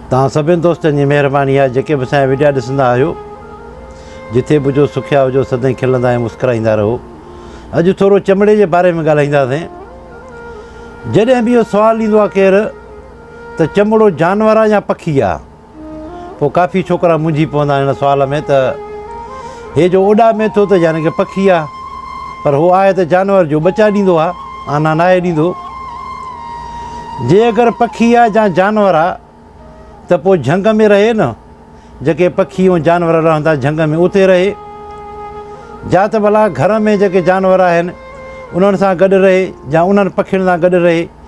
توهان سڀني دوستن جي مهرباني آهي جيڪي به اسان جا وڊيا ڏسندا آهيو جٿي به هجو سکيا هجو سدائين کلندا ۽ مسڪرائيندا رهو اڄ ٿورو چمڙي جي باري ۾ ڳالهائينداسين جڏهن به اهو سوال ڏيندو آهي ڪير ته چمڙو جانور آهي يا پکي آهي پوء ڪافي ڇوڪرا منجهي پوندا آهن هن سوال ۾ ته هي جو اوڏامي ٿو ته يعني ڪي پکي آ پر هو آهي ته جانور جو ٻچا ڏيندو آ آنا ناهي ڏيندو. جي اگر پکي آ جا جانور آ ته پو جهنگ ۾ رهي نه جيڪي پکي ۽ جانور رهندا جهنگ ۾ اتي رهي جا ته ڀلا گهر ۾ جيڪي جانور آهن انهن سان گڏ رهي جا انهن پکين سان گڏ رهي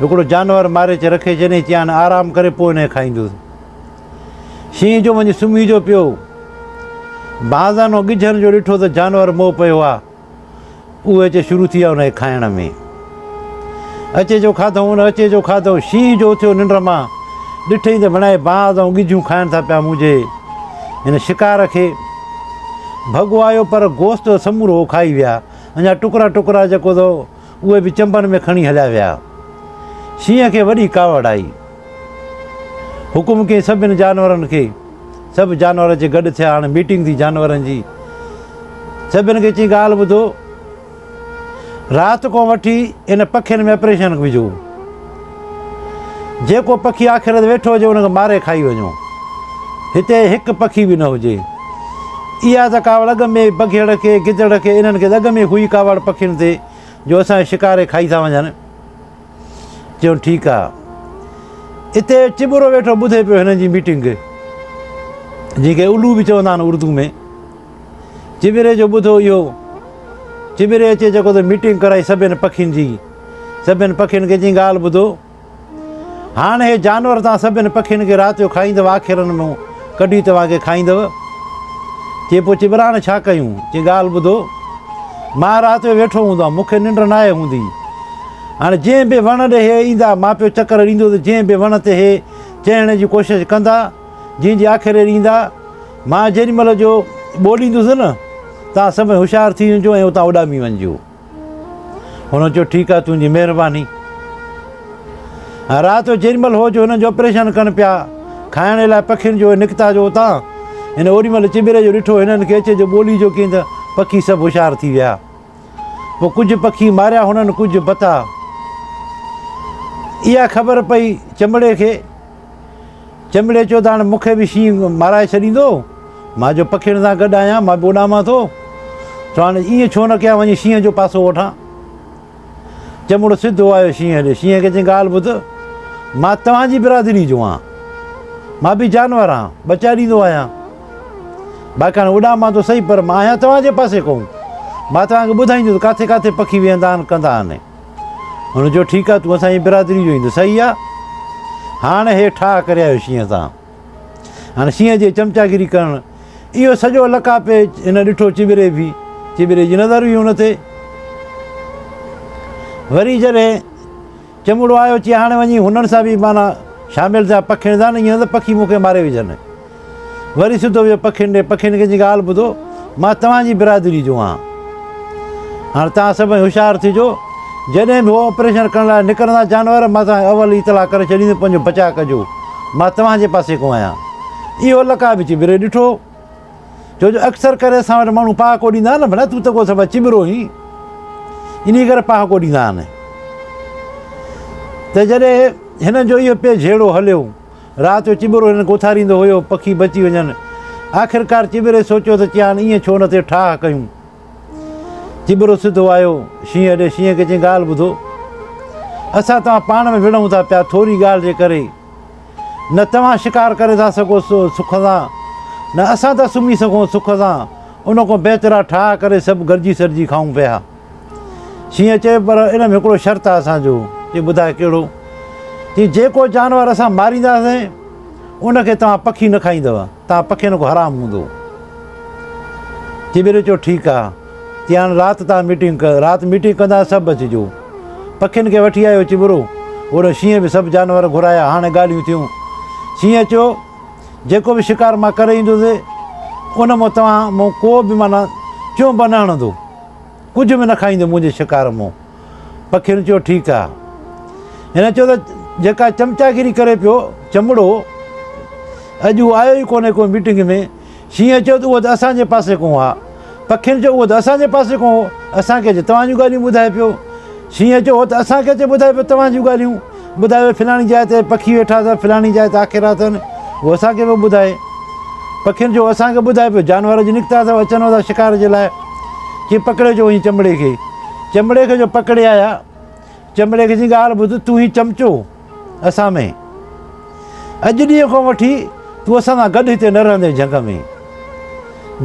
هڪڙو جانور ماري چي رکي جڏهن چيان آرام ڪري پوء انهيء کائيندس. شينهن جو وڃي سمهي جو پيو. بانزانو ڳجهن جو ڏٺو ته جانور مئو پيو آ. اهي اچي شروع ٿي ويا انهيء کائڻ ۾. اچي جو کاڌئون ان اچي جو کاڌئون. شينهن جو اٿيو ننڊ مان ڏٺئي ته ڀيڻائي بانز ۽ ڳجهون کائن ٿا پيا منهنجي هن شڪار کي. ڀڳو آيو پر گوشت ته سمورو هو کائي ويا. اڃا ٽڪرا ٽڪرا جيڪو ته اهي به چنبن ۾ کڻي هليا ويا. شينهن کي وڏي ڪاوڙ آئي. حڪم ڪيائين سڀني جانورن کي، سڀ جانور اچي گڏ ٿيا. هاڻ ميٽنگ ٿي جانورن جي. سڀني کي چيائين ڳالهه ٻڌو. رات کان وٺي هن پکين ۾ آپريشن وجهو. جيڪو پکي آخر ويٺو هجي ان کي ماري کائي وڃو. هتي هڪ پکي به نه هجي. اها ته ڪاوڙ اڳ ۾ ئي بگهڙ کي، گدڙ کي، انهن کي ته اڳ ۾ ئي هئي ڪاوڙ پکين تي جو اسان کي شڪاري کائي ٿا وڃن. چيو ٺيڪ آ. اتي چٻرو ويٺو ٻڌي پيو هنن جي ميٽنگ جنهن کي الو به چوندا آهن اردو ۾. چٻري جو ٻڌو اهو چٻري اچي جيڪو ته ميٽنگ ڪرائي سڀين پکين جي سڀين پکين کي جي ڳالهه ٻڌو هاڻ هي جانور تان سڀين پکين کي رات جو کائيندو آخرن مون ڪڍي توهان کي کائيندو چي پوء چٻراڻ ڇا ڪيون جي ڳالهه ٻڌو مان رات جو ويٺو هوندو آهيان مونکي ننڊ نه آئي هوندي هاڻ جنهن به وڻ ڏي هي ايندا مان پيو چڪر ڏيندو ته جنهن به وڻ تي هي چهڻ جي ڪوشش ڪندا جنهن جي آکر اهڙي ايندا، مان جيڏي مهل جو ٻوڏيندس نه، توهان سڀئي هوشيار ٿي وڃجو ۽ اتان اڏامي وڃجو. هن چيو، ٺيڪ آهي، تنهنجي مهرباني. رات جو جيڏي مهل هو جو هنن جو آپريشن ڪن پيا، کائڻ لاء پکين جو نڪتا جو اتان، هن اوڏي مهل چٻري جو ڏٺو، هنن کي اچي جو ٻوڏيجو ڪين ته پکي سڀ هوشيار ٿي ويا. پوء ڪجهه پکي ماريا هنن ڪجهه بتا. اها خبر پئي چمڙي کي. چمڙي چيو ته هاڻ مون کي به شينهن مارائي ڇڏيندو. مان جو پکين سان گڏ آهيان مان به اڏامان ٿو. سو هاڻ ائين ڇو نه ڪيان وڃي شينهن جو پاسو وٺان. چمڙو سڌو آيو شينهن ڏي. شينهن کي چيائين ڳالهه ٻڌ مان توهان جي برادري جو آهيان. مان به جانور آهيان ٻچا ڏيندو آهيان. باقي هاڻي اڏام مان ته سهي پر مان آهيان توهان جي پاسي ڪون. مان توهان کي ٻڌائيندس ڪاٿي ڪاٿي پکي ويهندا آهن ڪندا آهن. هن چيو ٺيڪ آهي تون اسان جي برادري جو ايندس سهي آهي. هاڻ هي ٺاهه ڪري آيو شينهن تان. هاڻي شينهن جي چمچاگيري ڪرڻ اهو سڄو لڪا پيچ هن ڏٺو چٻري بي چٻري جي نظر بي هن تي. وري جڏهن چمڙو آيو چي هاڻي وڃي هنن سان بي معنيٰ شامل ٿيا پکيڻ ٿا نه ايئن نه ته پکي مون کي ماري وجهن. وري سڌو ويو پکين ڏي، پکين کي چيائين ڳالهه ٻڌو مان توهان جي برادري جو آهيان، هاڻي توهان سڀئي هوشيار ٿجو، جڏهن به هو آپريشن ڪرڻ لاء نڪرندا جانور مان توهان کي اول ئي اطلاع ڪري ڇڏيندس، پنهنجو بچاء ڪجو، مان توهان جي پاسي ڪو آهيان. اهو لڪا به چٻري ڏٺو، ڇو جو اڪثر ڪري اسان وٽ ماڻهو پهاڪو ڏيندا آهن نه، ڀلا تون ته ڪو سبب چٻرو آهين، انهي ڪري پهاڪو ڏيندا آهن. ته جڏهن هنن جو اهو پي جهيڙو هليو، رات جو چٻرو هنن کي اٿاريندو هيو، پکي بچي وڃن. آخرڪار چٻري سوچيو ته چيان ائين ڇو نه ٿي ٺاهه ڪيون. چٻرو سڌو آيو شينهن ڏي، شينهن کي چيائين ڳالهه ٻڌو، اسان توهان پاڻ ۾ وڙهون ٿا پيا ٿوري ڳالهه جي ڪري، نه توهان شڪار ڪري ٿا سگهو سک سان، نه اسان ٿا سمهي سگهون سک سان، ان کان بهتر آ ٺاهه ڪري سڀ گڏجي سڏجي کائون پيا. شينهن چيو، پر ان ۾ هڪڙو شرط آهي اسان جو. چيو، ٻڌاء ڪهڙو؟ چيو، جيڪو جانور اسان مارينداسين، ان کي توهان پکي نه کائيندؤ، توهان پکين کان حرام هوندؤ. چيو، ٻيلي چيو، ٺيڪ آهي. چيو، هاڻي رات توهان ميٽنگ ڪيو، رات ميٽنگ ڪنداسين، سڀ اچجو. پکين کي وٺي آيو چٻرو، هوڏانهن شينهن به سڀ جانور گهرايا، هاڻي ڳالهيون ٿيون. شينهن چيو، جيڪو به شڪار مان ڪري ايندوسي، ان مان توهان مون ڪو به معنيٰ چونب نه هڻندو. ڪجهه به نه کائينديون منهنجي شڪار مون. پکين چيو ٺيڪ آ. هن چيو ته جيڪا چمچاگيري ڪري پيو چمڙو اڄ هو آيو ئي ڪونهي ڪو ميٽنگ ۾. شينهن چيو ته اهو ته اسان جي پاسي ڪون آ. پکين چيو اهو ته اسان جي پاسي ڪون هو اسان کي اچي توهان جون ڳالهيون ٻڌائي پيو. شينهن چيو هو ته اسان کي اچي ٻڌائي پيو توهان جون ڳالهيون. ٻڌايو ويو فلاڻي جاء تي پکي ويٺا اٿن فلاڻي جاء تي آکيرا اٿن هو اسان کي پيو ٻڌائي پکين جو اسان کي ٻڌائي پيو جانور جي نڪتا اٿو اچن اٿا شڪار جي لاء چي پڪڙي جو وڃي چمڙي کي چمڙي کي جو پڪڙي آيا چمڙي کي جي ڳالهه ٻڌ تون هي چمچو اسان ۾ اڄ ڏينهن کان وٺي تون اسان سان گڏ هتي نه رهندين جهنگ ۾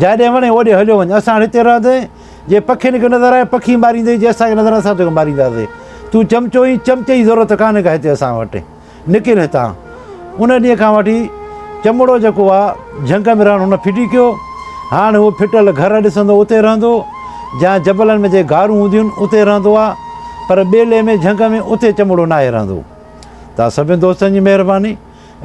جاڏي وڻي اوڏي هليو وڃ اسان هتي رهندين جي پکين کي نظر آئين پکي ماريندين جي اسان کي نظر اسان توکي مارينداسين تون چمچو اين چمچي جي ضرورت ڪانه ڪا هتي اسان وٽ نڪر هتان ان ڏينهن کان وٺي چمڙو جيڪو آ جهنگ ۾ رهڻ هن ڦٽي ڪيو هاڻ هو ڦٽل گهر ڏسندو اتي رهندو جا جبلن ۾ جي گارون هونديون آهن اتي رهندو آ پر ٻيلي ۾ جهنگ ۾ اتي چمڙو ناهي رهندو تان سڀين دوستن جي مهرباني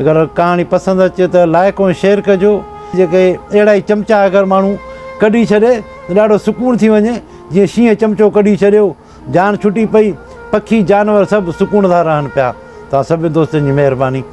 اگر ڪهاڻي پسند اچي ته لائڪ ۽ شيئر ڪجو. جيڪي اهڙا ئي چمچا اگر ماڻهو ڪڍي ڇڏي ته ڏاڍو سڪون ٿي وڃي جيئن شينهن چمچو ڪڍي ڇڏيو جان ڇٽي پئي پکي جانور سڀ سڪون سان رهن پيا توهان سڀني دوستن جي مهرباني.